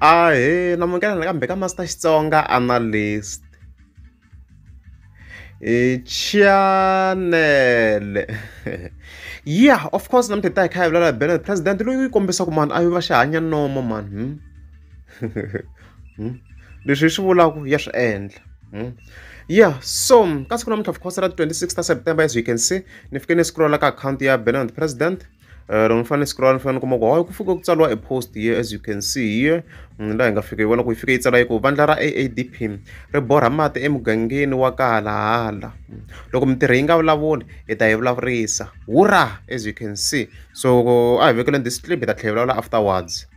Ahee, namukela nakambe ka Master Xitsonga Analyst. Chanele ya of course namuntlha hi ta hi kha hi vulela hi bela president loyi u yi kombisaka mani a yi va xi hanya nomo mani hmm? Hmm? leswi hi swi vulaka ya swi endla hmm? yeah so ka siku namuntlha of course ra 26 ta september as you can see ni fike ni scrolla ka akhawunti ya bela president Eh, loko ni fanele siku ra ni fanele ni kuma ku hayi ku fike ku tsariwa e post here as you can see here munhu laha hi nga fika hi vona ku yi fike yi tsala yi ku vandla ra aadp ri borha mati emugangeni wa ka halahala loko mintirho yi nga vulavuli hi ta yi vulavurisa wura as you can see so a hi vekeleni this clip hi ta tlhela hi vulavula afterwards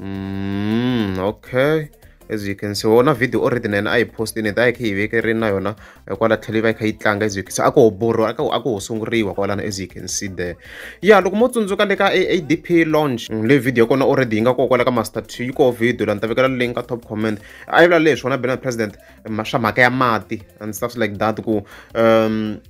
Mm, okay as you can see wona video already na yena a yi postini ta yi kha yi vekeri na yona eh, kwala tlhelo yi va yi kha yi tlanga as you can see a ko ho borwa a ko a ko ho sunguriwa kwalana as you can see there ya loko mo tsundzuka le ka adp launch mm, le video kona already yi nga ko kwala ka master two yi ko video la ni ta vekela link ka top comment a yi vula leswi wona bena president eh, swa mhaka ya mati and stuff like that ku um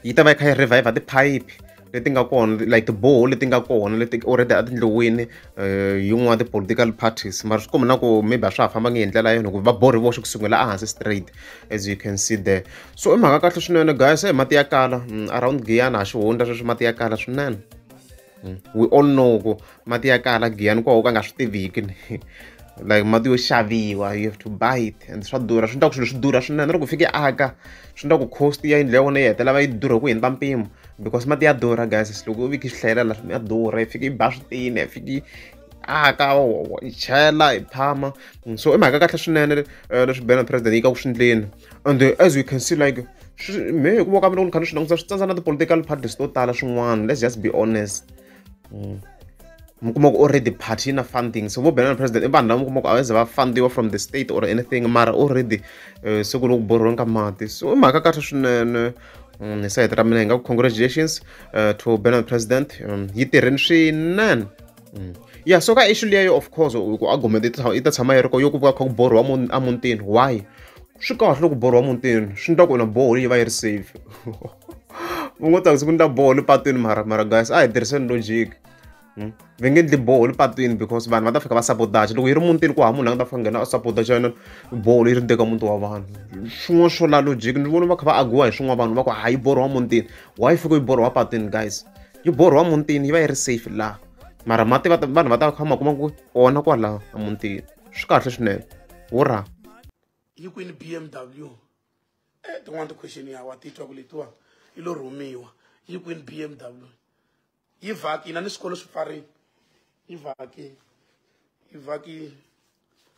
yi ta va yi kha yi revive tiphayiphi leti nga kona like tiboho leti nga kona leti already a tindlowini um eh, yin'wana ti-political parties mara swi komba na ku maybe a swa ha fambangi hi ndlela yona hikuva va borhi voxe ku sungula ehansi straight as you can see there so i mhaka kahle swinene guys e mati ya kala mm, around giyana ha xihundla sweswi mati ya kala swinene hmm. we all know ku mati ya kala giyani koho ka nga swi tiviki like mati yo xaviwa you have to buy it and swa durha swi endla ku swilo swi durha swinene loko fike aka swi endla ku cost ya yindlu ya vona yi hetelela va yi durha ku hindza mpimo because mati ya durha guys loko u viki swi hlayelela swi ya durha yi fike yi ba switini ya fike aka yi chela yi phama so i mhaka kahle swinene eh, leswi bena president yi ka ku swi ndleni and uh, as we can see like me hi ku voka mina ku ni kha ni swi languta swi tsandza na ti-political parties to tala swin'wana let's just be honest mm. mi kuma ku already party yi na funding so vo benana president i vanhu lava mi kuma ku a va ze va fundiwa from the state or anything mara already uh, se ku ni ku borhiweni ka mati so i mhaka kahle swinene mm, hi sayiti ra mina hi nga ku congratulations uh, to benana president um, yi tirheni swinene Mm. ya so ka issue leyo of course ku argument yi ta tshama yi ri ko yo ku va kha ku borhiwa emutini why swi kahle loko borhiwa emutini swi endla ku na boho yi va yi ri safe u ngo ta ku ni ta boho le patwini mara mara guys a hi tirhiseni logic hmm? va nge endli boho le patwini because vanhu va ta fika va sabotage loko yi ri mutini ku ha munhu a nga ta fika nghena a sabotage yona boho leyi ri teka muti wa vanhu swin'wana swo la logic ni vona va kha va agiwa hi swin'wana vanhu va ku hayi borhiwa mutini why fika yi borhiwa patwini guys yi borhiwa mutini yi va yi ri safe laha mara mati va vanhu va ta kha ma kuma ku ona kwala emutini swi kahle swinene wo ra yi kwini b m w e tin'wana ti-question ya wa titwa ku letiwa yi lo rhumiwa yi kwini b m w yi vhaki yina ni swikolo swi pfarini yi vhaki yi vhaki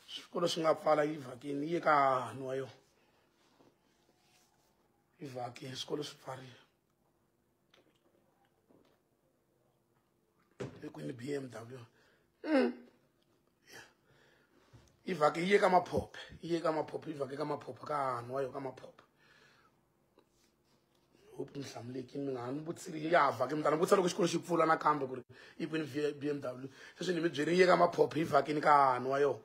swikolo swi nga pfala yi vhakini yi ye ka hahani wa yona yi vhaki swikolo swi pfarile eku ni bmw mm. yeah. yi vhake yi ye ka maphophe yi ye ka maphophe yi vhake ka maphophe ka hanwa yo ka maphophe hope mi hlamulekini mi nga ha ni vutsiri ya vhake mi ta ni vutisa loko xikolo xi pfula nakambe ku ri yi kwini bmw sweswi ni mi byeri yi ye ka maphophe yi vhakini ka hanwa yo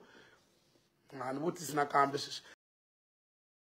nga ha ni vutisi nakambe sweswi